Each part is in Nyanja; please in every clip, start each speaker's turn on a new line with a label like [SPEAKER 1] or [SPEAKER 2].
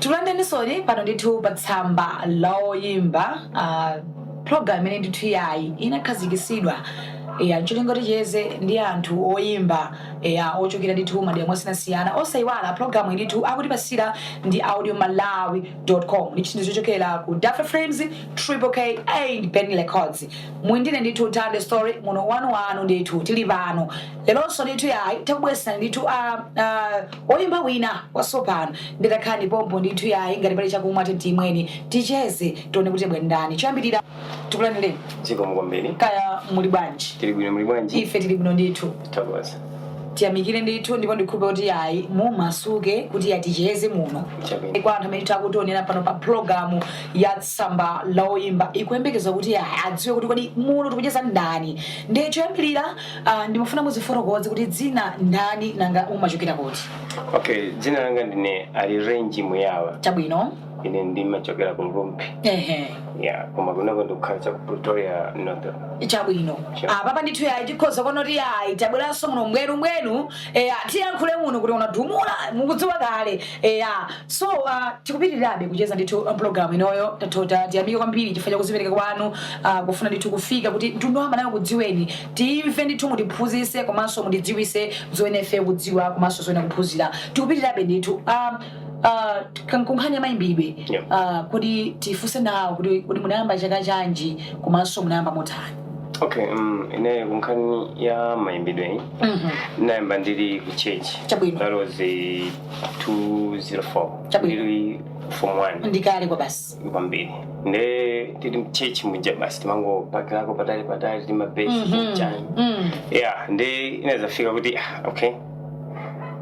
[SPEAKER 1] tikulandireninsoni pano ndithu pa tsamba la oyimba ah, program imene ndithu yayi inakhazikitsidwa ya ncholinga ticheze ndi anthu oyimba ya ochokera ndithu madera mosiyanasiyana osaiwala program ndithu akutipatsira ndi audio malawi com ndi chinthu chochokera ku dafa frames triple k and ben records muli ndine ndithu tande story muno wanu wanu ndithu tili pano leronso ndithu yayi takubweretserani ndithu a a- oyimba wina watsopano nde takhalani pompo ndithu yayi ngati pali chakumwa tiyeni timweni ticheze tione kuti bwendani choyambirira tikulandireni zikomo
[SPEAKER 2] kwambiri kaya muli
[SPEAKER 1] bwanji tili bwino muli bwanji
[SPEAKER 2] ife tili bwino
[SPEAKER 1] ndithu
[SPEAKER 2] takoza
[SPEAKER 1] tiyamikire ndithu ndipo ndikhulupirira kuti ayi mumasuke kuti yayi ticheze muno Chabwino. kwa anthu amene akutionera pano pa pulogalamu ya tsamba la oyimba ikuyembekeza kuti ayi adziwe kuti kodi muno tikucheza ndani ndiye choyambirira ah, ndimafuna muzifotokoze kuti dzina ndani nanga mumachokera kuti okay dzina
[SPEAKER 2] langa ndine ali renji muyawa chabwino
[SPEAKER 1] ine
[SPEAKER 2] ndimachokera ku rumphi ehe ya koma kunoko ndikukhala cha ku pretoria north chabwino
[SPEAKER 1] Sure. apapa ndithu yayi tikhoza kuona kuti yayi tabweranso muno mbwenu mbwenu eya tiyankhule muno kuti unadumula mukudziwa kale eya so uh, tikupitirirabe kucheza ndithu uh, program inoyo tatota tiyamike kwambiri chifukwa cha kuzipereka kwanu uh, kufuna ndithu kufika kuti mtundu wa malawi ukudziweni timve ndithu mutiphunzitse komanso mutidziwitse zoyenera ife kudziwa komanso zoyenera kuphunzira tikupitirirabe ndithu um, Uh, kunkhani ya mayimbidwe yeah. uh, kuti tifunse nawo kuti kodi munayamba chaka chanji komanso munayamba motani okay um,
[SPEAKER 2] ine kunkhani ya mayimbidwe mm -hmm. ndinayamba ndili ku church chabwino that was 204 chabwino ndili form 1 ndi kale kwabasi
[SPEAKER 1] kwambiri
[SPEAKER 2] nde tili mtchetchi muja basi timangobakirako patali patali timabesi Mhm. chani Mm. yeah nde inadzafika kuti ah, okay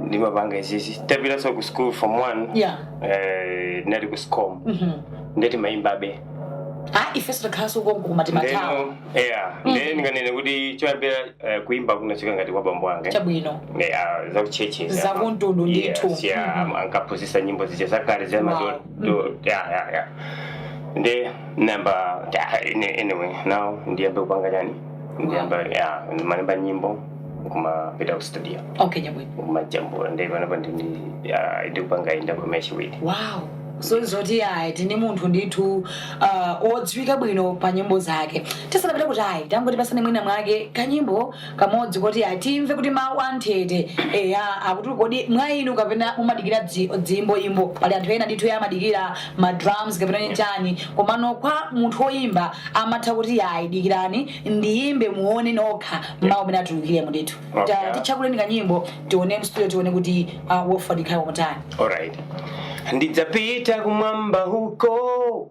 [SPEAKER 2] ndimapanga izizi tapitanso ku school form one Yeah. eh, ndinali ku scom Mhm. nde timayimbabe Ah,
[SPEAKER 1] ifeso takhalanso konko koma timathawa ndeno yeah
[SPEAKER 2] nde ndinganene kuti choyambira eh, kuyimba kunachoka ngati kwa bambo anga chabwino yeah
[SPEAKER 1] zakutchetchi
[SPEAKER 2] Zakumtundu
[SPEAKER 1] ndithu. Mhm. ankaphunzitsa
[SPEAKER 2] nyimbo zija zakale za Wow. madolo Do- yeah, yeah, yeah. Ndinayamba yeah, any- anyway, now ndiyambe kupanga chani? Ndiyambe yeah, ndimalemba nyimbo kumapita ku studio okay chabwino
[SPEAKER 1] kumajambula nde
[SPEAKER 2] panopa ndi yeah, ndikupanga inda kwa meshi wiki. wow
[SPEAKER 1] so zoti ayi tili ndi munthu ndithu uh, odziwika bwino pa nyimbo zake tisanapita kuti ayi tangotipatsani mwina mwake kanyimbo kamodzi koti atimve kuti mawu anthete eya kuti kodi mwa inu kapena mumadikira ziyimboyimbo pali anthu ena ndithu amadikira ma drums kapena ni chani komano kwa munthu woyimba amatha kuti ayi dikirani ndiyimbe muone nokha mawu amene atulukiremo ndithu Okay. Ta- titchakulireni kanyimbo tione mstudio tione kuti uh, mwafatsikha motani alright
[SPEAKER 2] ndidzapita kumwamba huko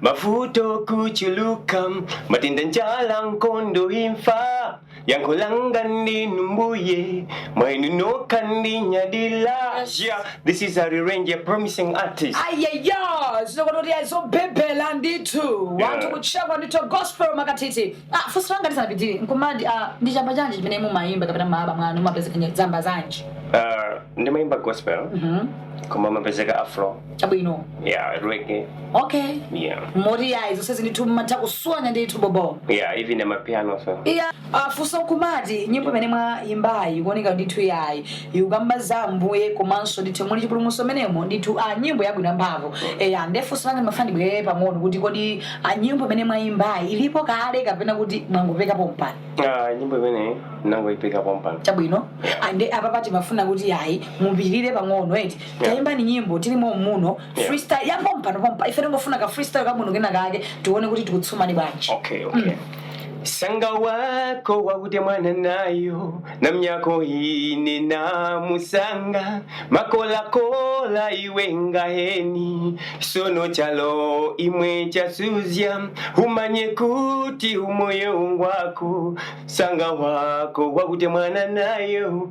[SPEAKER 2] mavuto kuchuluka matenda njala nkondo imfa yankho langa ndinu mbuye mwainu nokha ndinyadila yeah, this is Harry Range, a promising artist ayaya
[SPEAKER 1] zinokonoti azobhebhera ndithu wanthu Yeah. kutchekwa ndithu gospel makathithi Ah, funso langa ndisanapitirire nkumati ah, ndi chamba chanji chimene mumayimba kapena mu album mwanu mumapezeka zamba zanji uh, ndimayimba
[SPEAKER 2] gospel koma mumapezeka afro chabwino
[SPEAKER 1] yeah
[SPEAKER 2] reggae okay
[SPEAKER 1] yeah moti yayi zonse ndithu mmatha kuswanya ndithu bobo yeah even
[SPEAKER 2] amapiano so iya
[SPEAKER 1] funso nkumati nyimbo imene mwayimbayi ikuoneka ndithu yayi ikukamba za ambuye komanso ndithu muli chipulumutso mmenemo ndithu a nyimbo yabwino yamphamvu eya ndefunso langa ndimafuna ndibwerere pang'ono kuti kodi a nyimbo imene mwayimbayi ilipo kale kapena kuti mwangopeka pompano ah nyimbo
[SPEAKER 2] imeneyi sindinangoipeka pompano chabwino ande
[SPEAKER 1] apapa timafuna kuti yayi mupirire pang'ono eti Tayimbani nyimbo tili mom'muno, freestyle ya pompano pompa, ife tikungofuna ka freestyle kabwino kena kake tiwone kuti tikutsumani bwanji. Okay,
[SPEAKER 2] okay. Sanga wako wakutemwana nayo namnyako ine namusanga makolakola iwe ngaheni sono chalo imwe chasuzya umanye kuti umoyo ngwako sanga wako wakutemwana nayo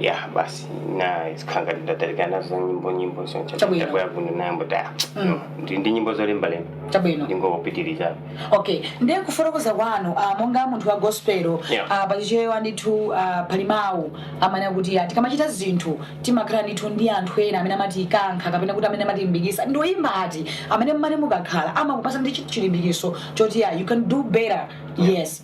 [SPEAKER 2] ya basi ndinasiya kaye ndatalika nazo nyimbo nyimbo zonse Chabwino. tabwera kuno ndayambanso Mm. ndi ndi nyimbo zolembalemba chabwino ndingopitiriza okay ndiye
[SPEAKER 1] kufotokoza kwanu ah, monga munthu wa gospelo Yeah. ah, pa chichewa ndithu ah, pali mawu amene akuti ah, tikamachita zinthu timakhala ndithu ndi anthu ena amene amatikankha kapena kuti amene amatilimbikitsa ndi oyimba ati amene mmane mukakhala amakupatsani chi- chilimbikitso choti ah, you can do better yes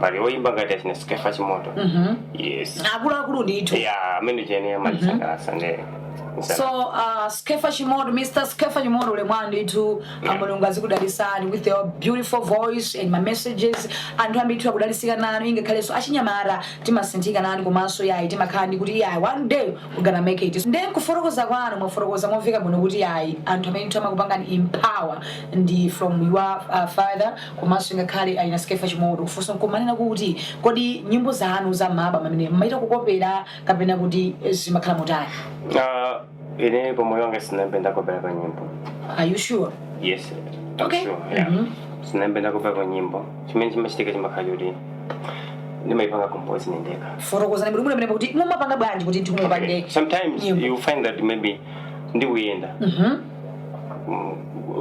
[SPEAKER 2] pali oyimba ngati achina skefa chimoto Mhm. yes akuluakulu
[SPEAKER 1] ndithu ya amene tinene
[SPEAKER 2] amandisangalatsa nde
[SPEAKER 1] so uh, skefa chimoto mr skefa chimoto ulemu wanu ndithu Yeah. mulungu azikudalitsani with your beautiful voice and ma messages anthu ambiri ndithu akudalitsika nanu ingakhalenso achinyamata timasinthika nanu komanso yayi timakhala ndi kuti yayi one day we gonna make it nde kufotokoza kwanu mwafotokoza momveka bwino kuti yayi anthu amene ndithu amakupangani empower ndi from your uh, father Komanso ngakhale a ina Skeffa Chimoto, funso n'kumanena kuti, Kodi nyimbo zanu za m'maalbamu amenewa mumacita kukopela kapena kuti zimakhala motani? Uh,
[SPEAKER 2] ine pa moyo wanga sinayambe ndakopelapo nyimbo Are you sure?
[SPEAKER 1] yes
[SPEAKER 2] I'm Okay.
[SPEAKER 1] sure,
[SPEAKER 2] yeah. Mhm. sinayambe ndakopelapo nyimbo chimene chimachitika chimakhala choti ndimayipanga compose ndekha Fotokozani bwino pamenepo
[SPEAKER 1] kuti mumapanga bwanji kuti ndithu mupange sometimes nyimbo. you
[SPEAKER 2] find that maybe ndikuyenda Mhm.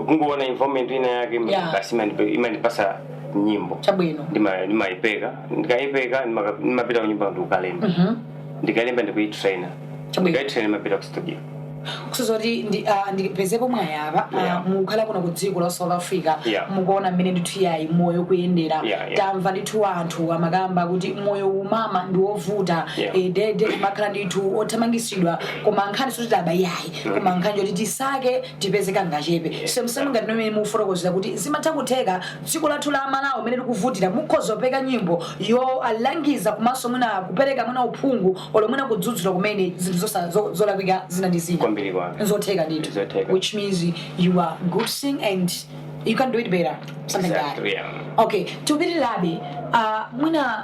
[SPEAKER 2] kungoona environment ina yake ima- Yeah. basi imanipe- imandipasa nyimbo chabwino
[SPEAKER 1] Ndima-
[SPEAKER 2] ndimayipeka ndikayipeka ndimaka- ndimapita kunyumba ndikukalemba Mhm. ndikalemba ndikuyitraina Chabwino. ndikayitraina ndimapita ku studio kusonyeza
[SPEAKER 1] kuti ndi- ah, ndipezepo mwayi apa Yeah. mukhala kuno ku dziko la south africa Yeah. mukuona mmene ndithu yayi moyo kuyendera Yeah, yeah. tamva ndithu anthu amakamba kuti moyo umakhala wovuta Yeah. eh, tede mumakhala ndithu othamangisidwa koma nkhani siyoti taba yayi koma nkhani yoti tisake tipeze kangachepe semsem ngati mmene mukufotokozera kuti zimatha kutheka dziko lathu la malawi mmene tikuvutikira mukhoza kupeka nyimbo yolangiza komanso mwina kupereka mwina uphungu olo mwina kudzudzula kumene zinthu zosa- zo- zolakwika zina ndi zina Kwambiri kwake. nzotheka ndithu Nzotheka. which means you are good singer and you can do it better something like that Exactly, yeah.
[SPEAKER 2] okay
[SPEAKER 1] tipitirabe uh, mwina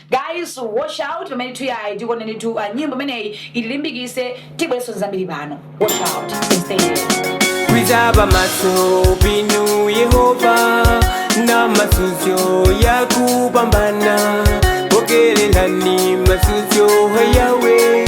[SPEAKER 1] Guys watch out pamenetu yayi tikonenitu uh, nyimbo imeneyi itilimbikise tibweso nzambiri pano watch out stay here kwizaba
[SPEAKER 2] maso pinu yehova na masuzo ya kupambana pokelelani masuzo hayawe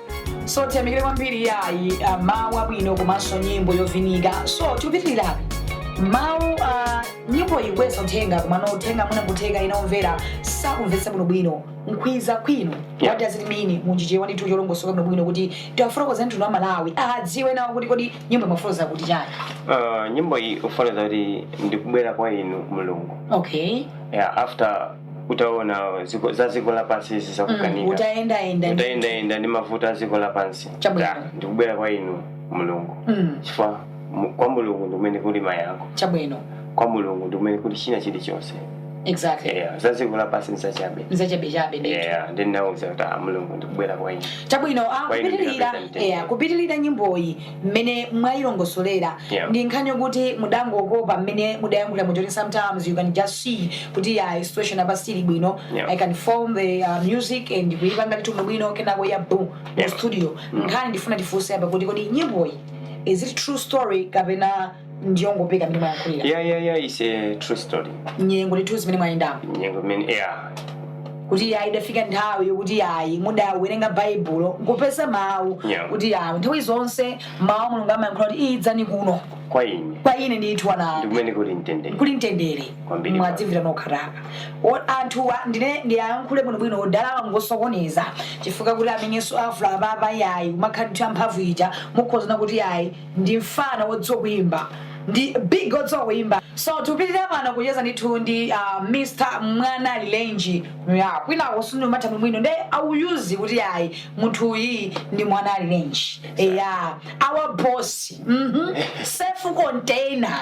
[SPEAKER 1] so tiyamikire kwambiri yayi ah, mawu abwino komanso nyimbo yovinika so tikupitirirabe mawu ah, nyimbo ili ndi uthenga komano uthenga mwina kutheka ena omvera sakumvetsa bwinobwino nkhwiza kwinu Yeah. what does it mean m'Chichewa ndithu cholongosoka bwinobwino kuti tiwafotokozere mtundu wa malawi adziwe nawo kuti kodi nyimbo imafotokoza kuti chani Uh, nyimbo iyi
[SPEAKER 2] ikufotokoza kuti ndikubwera kwa inu mulungu okay
[SPEAKER 1] yeah, after
[SPEAKER 2] utaona ziko- za dziko lapansi izi Mm, zakukanika utayendayenda ndi- utayendayenda ndi mavuto a dziko lapansi Chabwino. Da, ndikubwera kwa inu mulungu Mm, chifukwa mu- kwa mulungu ndikumene kuli mayankho chabwino
[SPEAKER 1] kwa
[SPEAKER 2] mulungu ndikumene kuli china chilichonse
[SPEAKER 1] exactly yeah, za dziko
[SPEAKER 2] lapansi ndizachabe nzachabechabe ndithu yeah, ndinauza kuti ah, mulungu ndikubwera kwa inu chabwino ah, Kwa ine
[SPEAKER 1] kupitirira ndikapeza mtendere. yeah, kupitirira nyimboyi mmene mwayilongosolera yeah. ndi nkhani yokuti mudangopeka mmene mudayankhulira muja kuti sometimes you can just see kuti ya uh, situation apa sili bwino yeah. i can form the uh, music and kuyipanga ndithu bwino kenako yeah boom yeah. mu studio mm. nkhani ndifuna tifunse apa kuti kodi nyimboyi is it true story kapena ndiyongopeka mmene mwayankhulira ya ya ya is
[SPEAKER 2] a true story nyengo ndithu
[SPEAKER 1] zimene mwayendamo nyengo imene
[SPEAKER 2] ya
[SPEAKER 1] kuti ayi idafika nthawi yokuti ayi mudawerenga baibulo n'kupeza mawu Yeah. kuti ayi nthawi zonse mawu a mulungu amayankhula kuti idzani kuno kwa ine kwa ine ndithu ana ndi kumene kuli
[SPEAKER 2] mtendere kuli mtendere Kwambiri.
[SPEAKER 1] mwadzimvera nokhatu O- anthuwa ndine ndiyankhule bwinobwino odalawa ngosokoneza chifukwa kuti amenenso afula apapa yayi amakhala ndithu amphamvu ija mukhozana kuti yayi ndi mfana wodziwa kuimba ndi big odziwa kuimba so tipitirira pano kucheza ndithu ndi uh, mr mwana lilenji ya kwinako simumatha mwina nde awuzeni kuti ayi munthu uyi ndi mwana lilenji ya our boss mhm safe container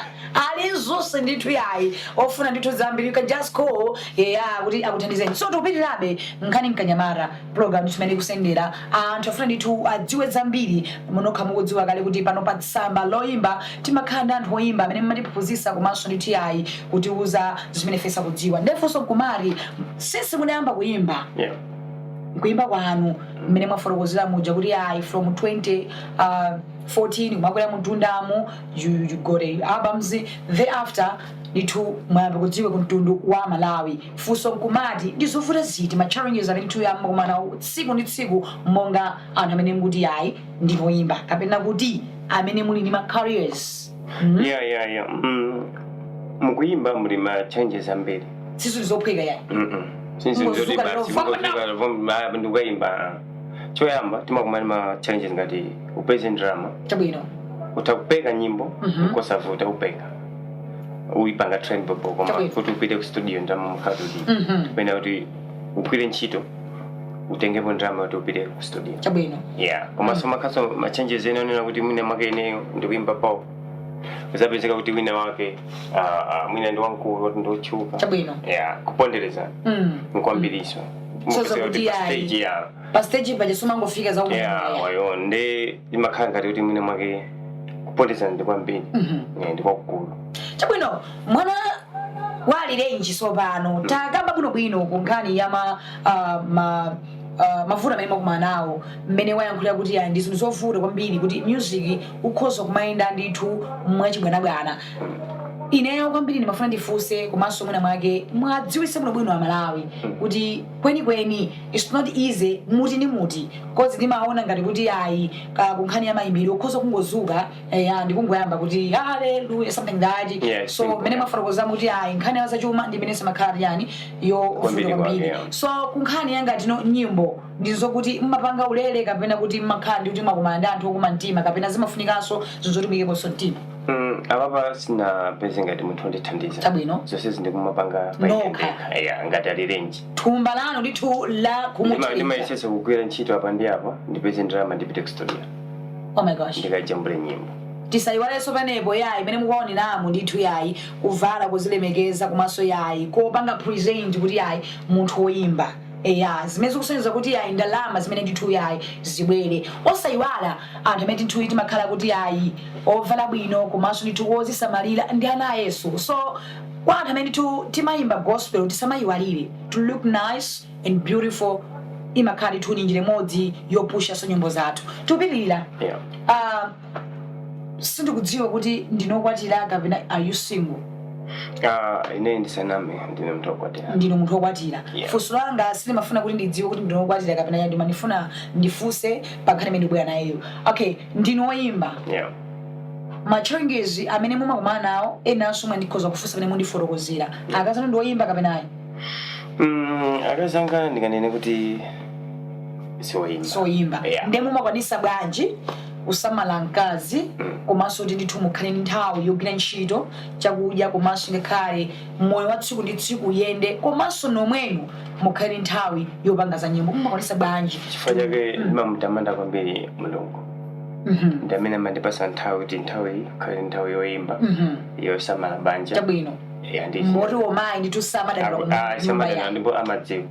[SPEAKER 1] aliyense ndithu yayi ofuna ndithu zambiri you can just call ya kuti akuthandizeni so tipitirabe nkhani mkanyamara program timene kusendera anthu afuna ndithu adziwe zambiri munokha mukudziwa kale kuti pano pa tsamba loyimba timakhala ndi anthu oyimba amene mumatiphunzitsa komanso ndithu yayi kutiuza zimene ife sitikudziwa nde funso nkumati since munayamba kuyimba yeah. kuyimba kwanu mmene mwafotokozera muja kuti ayi from 20 uh, 14 kumakwera mtundamo you, you got a albums thereafter ndithu mwayamba kudziwika kumtundu wa amalawi. funso nkumati ndi zovuta ziti, ma challenges amene mukukumana nawo tsiku ndi tsiku monga anthu amene mukuti ayi ndinu oyimba kapena kuti amene muli ndi ma careers mm? ya ya ya mm.
[SPEAKER 2] mukuyimba muli ma challenges ambiri si zinthu
[SPEAKER 1] zophweka yayi Mm-mm.
[SPEAKER 2] Sizongozuka
[SPEAKER 1] kuti basi,
[SPEAKER 2] lero
[SPEAKER 1] ungozuka
[SPEAKER 2] ndikukaimba choyamba timakumana ma challenges ngati upeze ndalama chabwino
[SPEAKER 1] utakupeka
[SPEAKER 2] nyimbo Mhm. nkosavuta upeka uyipanga train bhobho koma Chabwino. kuti upite ku studio ndalama mukhale kuti Mhm. pena kuti ugwire ntchito utengepo ndalama kuti upite ku studio chabwino yeah
[SPEAKER 1] komanso makaso
[SPEAKER 2] ma challenges ena onena kuti mwina mwake ineyo ndikuyimba bhoo uzapezeka kuti wina wake ah, ah, mwina ndi wamkulu kuti ndiwotchuka chabwino yeah
[SPEAKER 1] kupondereza
[SPEAKER 2] Mm. nkwambiriso Soza kuti ayi. stage ya
[SPEAKER 1] pa stage paja sumangofika za yeah kumanaya wayo
[SPEAKER 2] nde limakhala ngati kuti mwina mwake kuponderezana ndi kwambiri Yeah, ndi kwakukulu chabwino
[SPEAKER 1] mwana lilenji sopano takamba bwinobwino ku nkhani ya ma, ah, ma ah, mavuto amene mwakumana nawo mmene mwayankhulira kuti yayi ndi zinthu zovuta kwambiri kuti music ukhoza kumayenda ndithu mwachibwanabwana ineyo kwambiri ndimafuna ndifunse komanso mwina mwake muwadziwitse bwinobwino amalawi kuti kwenikweni its not easy muti ndi muti coz ndimaona ngati kuti ayi ka kunkhani ya mayimbidwe ukhoza kungozuka ya ndikungoyamba kuti haleluya something that Yeah, so simple, mmene yeah. mwafotokoza kuti ayi nkhani ya zachuma ndi imene simakhala yani yo Kwambiri vuta kwambiri kwake, yeah. so kunkhani ya ngati nyimbo ndizokuti mmapanga ulere kapena kuti mmakhala ndi kuti mwakumana ndi anthu okuma mtima kapena zimafunikanso zinthu zoti muyikeponso mtima Mm,
[SPEAKER 2] apapa sindinapeze ngati munthu wondithandiza Chabwino.
[SPEAKER 1] zonse
[SPEAKER 2] zindikumapanga Nokha. ya ngati a lilenji thumba lanu ndithu
[SPEAKER 1] la kumuchiritsa ndimayesesa kugwira ntchito
[SPEAKER 2] apa ndi apa ndipeze ndalama ndipite kustudio oh my gosh
[SPEAKER 1] ndikajambule
[SPEAKER 2] nyimbo
[SPEAKER 1] tisayiwalenso panopa yayi imene mukuwaoneramu ndithu yayi kuvala kuzilemekeza komanso yayi kupanga present kuti yayi munthu woyimba eya zimene zikusonyeza kuti yayi ndalama zimene ndithu yayi zibwere osayiwala Anthu amene ndithu timakhala kuti ayi ovala bwino komanso ndithu wozisamalira ndi ana a Yesu so kwa anthu amene ndithu timayimba gospel tisamayiwalire to look nice and beautiful imakhala ndithu ndi njira imodzi yopushanso nyimbo zathu tikupitirira Yeah. Ah, sindikudziwa kuti ndinu okwatira kapena are you single
[SPEAKER 2] Ah, ine ndisaname ndine munthu okwatira ndine munthu wokwatira
[SPEAKER 1] Yeah. funso langa silimafuna kuti ndidziwe kuti ndinu wokwatira kapena ya ndimafuna ndifunse pa nkhani imene ndikubwera nayeyo okay ndinu oyimba yeah. machallenges amene mumakumana nawo enanso omwe ndikhoza kufunsa pamene mundifotokozera akazi anu ndi oyimba kapena ayi mm, akazi
[SPEAKER 2] anga ndinganene kuti siwoyimba
[SPEAKER 1] soyimba Yeah. ndiye mumakwanisa bwanji kusamala mkazi komanso kuti ndithu mukhale ndi nthawi yogwira ntchito chakudya komanso ngakhale mmoyo wa tsiku ndi tsiku uyende komanso nomwenu mukhale nthawi yopanga za nyimbo mumakwanisa bwanji chifukwa chake
[SPEAKER 2] ndimamutamanda kwambiri mulungu Mhm, ndi amene amandipasa nthawi kuti nthawi iyi ikhale nthawi yoyimba mhm. yosamala banja chabwino Ya, ndi-
[SPEAKER 1] moti omayi ndithu samadandaula Aku- ah, nyumba samadandaula ya ndipo amadziwa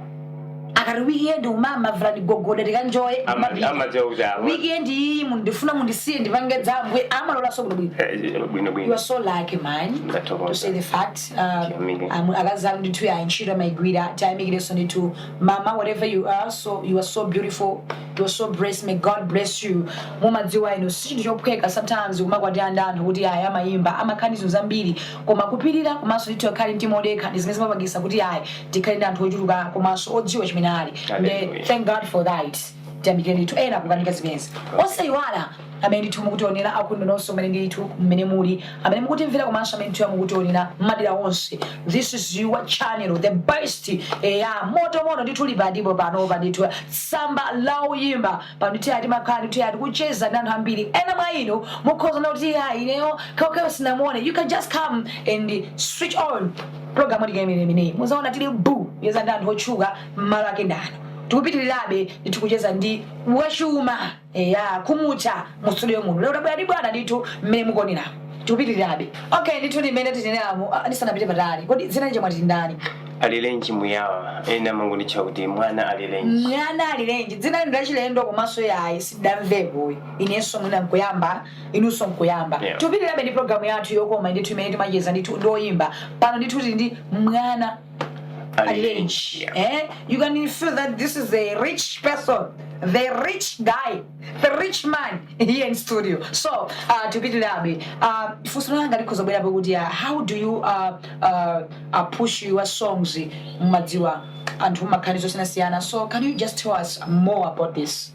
[SPEAKER 1] ikati weekend umama vula gogoda tikanjoye amapita amadziwa kuti awa weekend iyi mundifuna mundisiye ndipange dzambwe amalolanso kuti bwino Eh, you bwinobwino are so lucky man Ndathokoza. to say the fact um, Tiyamike. um, akazi anu ndithu ya ntchito amaigwira tiyamikireso ndithu mama whatever you are so you are so beautiful you are so blessed may god bless you mumadziwa inu si chinthu chophweka sometimes kumakwati anda anthu kuti ayi amayimba amakhala ndi zambiri koma kupirira komanso ndithu akhale ndi mtima odekha ndi zimene zimapangisa kuti ayi tikhale ndi anthu ochuluka komanso odziwa chimene ali nde thank god for that tiyamikire ndithu ena zikukanika zimenezi osayiwala amene ndithu mukutionera akunja nonse amene ndithu mmene muli amene mukutimvera komanso amene ndithu mukutionera mmadera onse this is your channel the best eya moto moto ndithu lipadipo panopa ndithu tsamba la oyimba pano ndithu ya timakhala ndithu yati kucheza ndi anthu ambiri ena mwa inu mukhoza kuti ya ineyo kawukawu sinamuone you can just come and switch on Pulogalamu tikaimilira imeneyi muzaona tili buu kucheza ndi anthu otchuka mmalo ake ndi ano. Tikupitilirabe ndithu kucheza ndi wachuma eya khumutcha mu studio muno lero tabwera ndi bwana ndithu mmene mukuoneramu tikupitilirabe okay ndithu ndi mmene tineneramu ah, ndisanapite patali kodi dzina lija mwati ndani
[SPEAKER 2] alirenji Muyawa ena amangonditcha kuti mwana alirenji mwana alirenji dzina ilo ndi lachilendo
[SPEAKER 1] komanso yayi sindidamvepo ayi inenso mwina nkuyamba inunso nkuyamba Yeah. tikupitirabe ndi programu yathu yokoma ndithu imene timacheza ndithu ndi oyimba pano ndithu tili ndi mwana alirenji Yeah. eh? you can feel that this is a rich person the rich guy the rich man here in studio so uh, tikupitirabe uh, funso langa likhoza kubwerapo kuti uh, how do you uh, uh, uh, push your songs mumadziwa anthu amakhala ndi zosiyanasiyana so can you just tell us more about this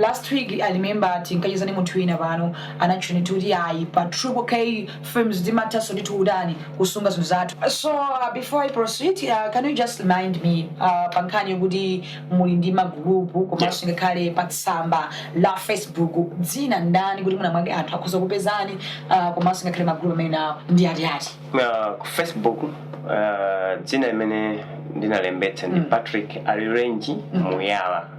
[SPEAKER 1] last week i remember tinkacheza ndi munthu wina pano anatchula ndithu kuti ayi pa triple k films timathanso ndithu kutani kusunga zinthu zathu so uh, before i proceed uh, can you just remind me uh, pa nkhani yokuti muli ndi magulupu komanso ngakhale pa tsamba la facebook dzina ndani kuti mwina mwake anthu akhoza kupezani uh, komanso ngakhale magulupu amene nawo ndi ati ati Uh, ku facebook
[SPEAKER 2] uh, dzina limene ndinalembetsa ndi patrick alirenji muyala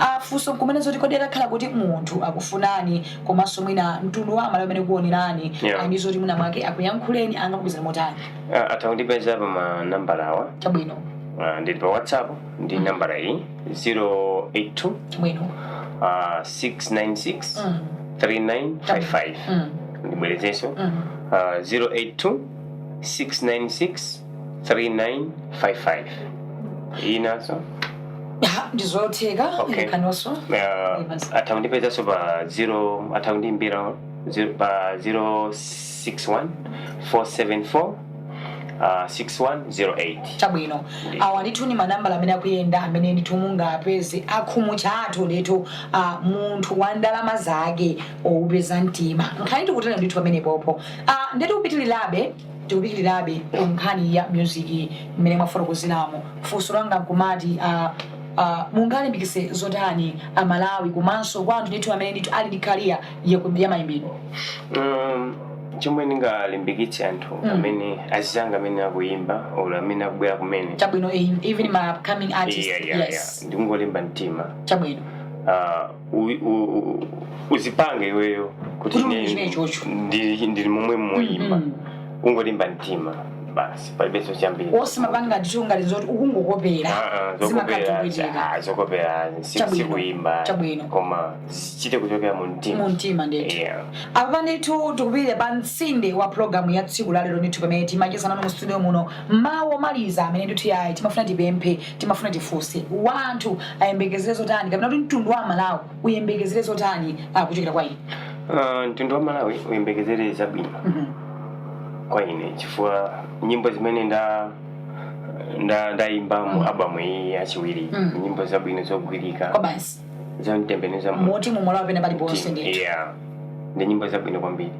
[SPEAKER 1] a Funso n'kumati zoti kodi atakhala kuti munthu akufunani komanso mwina mtundu wa amalawi amene akukuonerani Yeah. ndi zoti mwina mwake akuyankhuleni angakupezeni motani Ah, atha kundipeza pa
[SPEAKER 2] manambala awa chabwino Ah,
[SPEAKER 1] ndili pa
[SPEAKER 2] whatsapp ndi nambala iyi 082
[SPEAKER 1] chabwino ah,
[SPEAKER 2] 696 Mm, 3955 mm, ndibwerezenso mm. ah, 082 696 3955 inanso
[SPEAKER 1] Ah, ndizotheka Okay. ikakananso uh, atha
[SPEAKER 2] kundipezanso pa 0 atha kundiimbira zero- pa 061 474 uh, 6108
[SPEAKER 1] chabwino awa ndithu ni manambala amene akuyenda amene ndithu mungapeze akhumu chathu ndithu ah, munthu wa ndalama zake opeza mtima nkhani tikutere ndithu pamenepopo Ah, nde tikupitirirabe tikupitirirabe ku nkhani ya music mmene mwafotokozeramo funso langa nkumati uh, uh, mungalimbikise zotani amalawi komanso kwa anthu ndithu amene ndithu ali ndi kariya yamayimbidwe
[SPEAKER 2] Um, chomwe ndingalimbikitse anthu Mm. amene azizanga amene akuyimba or amene akubwera kumene chabwino eh, even my
[SPEAKER 1] upcoming artist Yeah, yeah, yeah. yes ndikungolimba mtima
[SPEAKER 2] chabwino
[SPEAKER 1] Ah, u- u-
[SPEAKER 2] u- uzipange iweyo kuti Kuti ine uchite ichocho. ndili ndili momwemo oyimba Mm. ungolimba mtima basi palibenso chambiri osamapanga tichongani
[SPEAKER 1] zoti ukungokopera Ah, ah, zokopera zimakavuta ah,
[SPEAKER 2] zokopera si- Chabwino. sikuyimba Chabwino. koma zichite kuchokera mu mtima mumtima
[SPEAKER 1] ndithu Yeah. apa ndithu tikupitira pa mtsinde wa pulogalamu ya tsiku lalero ndithu pamene timacheza nanu mu studio muno mawu omaliza amene ndithu yayi timafuna tipemphe Timafuna tifunse, anthu ayembekezere zotani kapena kuti mtundu wa Malawi uyembekezere zotani ah, kuchokera kwa inu? Ah, mtundu wa
[SPEAKER 2] malawi uyembekezere zabwino Mhm. kwa ine chifukwa nyimbo zimene nda nda ndayimba mu album iyi yachiwiri Mm. nyimbo zabwino zogwirika Kobasi.
[SPEAKER 1] zomutembenuza
[SPEAKER 2] munthu moti m'malawi
[SPEAKER 1] pena paliponse ndithu yeah ndi
[SPEAKER 2] nyimbo zabwino kwambiri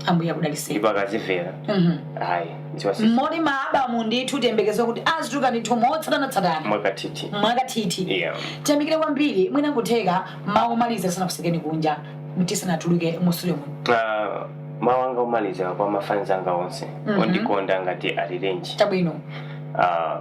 [SPEAKER 2] ambuye
[SPEAKER 1] akudaliseni ndipo akazimvera
[SPEAKER 2] Mhm. ayi dziwa si moti
[SPEAKER 1] ma album ndithu tiyembekeze kuti azituluka ndithu motsatanatsatana mwakathithi mwakathithi yeah tiyamikire kwambiri mwina kutheka mawu omaliza tisanakutsekeni kunja tisanatuluke mu studio muno Ah, mawu anga
[SPEAKER 2] omaliza kwa mafans anga onse Mhm. ondikonda ngati alirenji chabwino
[SPEAKER 1] Ah,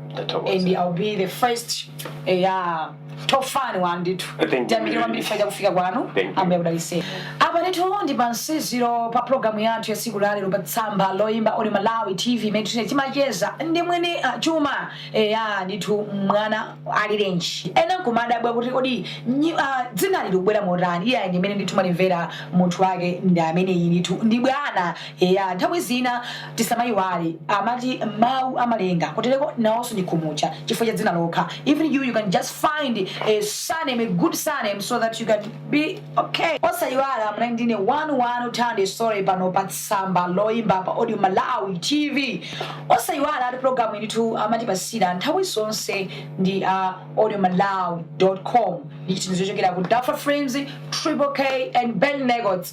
[SPEAKER 1] and ndathokoza I'll be the first eh, your top fan one ndithu Thank you. Tiyamikire kwambiri Faida kufika kwanu Thank you. Ambuye akudalitse apa ndithu ndi pamtsiriziro pa programu yathu ya tsiku la lero pa tsamba loyimba Audio Malawi TV imene tine timacheza ndi mwini ah, chuma eh, ya ndithu Mwana Alirenji ena nkumadabwa kuti kodi nyi- ah, dzinali likubwera motani iye ndi mmene ndithu mumalimvera munthu wake ndi ameneyi ndithu ndi bwana Eya, nthawi zina tisamaiwale amati mau amalenga kuteleko naonso ndi kumutcha chifukwa cha dzina lokha even you you can just find a surname a good surname so that you can be ok. Osaiwala munali ndine wanu wanu Thandi Sole pano pa tsamba loimba pa Audio Malawi TV. Osaiwalatu pulogalamuyi ndithu amatipatsira nthawi zonse ndi a audiomalawi.com ndi chithandizo chochokera ku Duffer Frames, Triple K and Ben Records.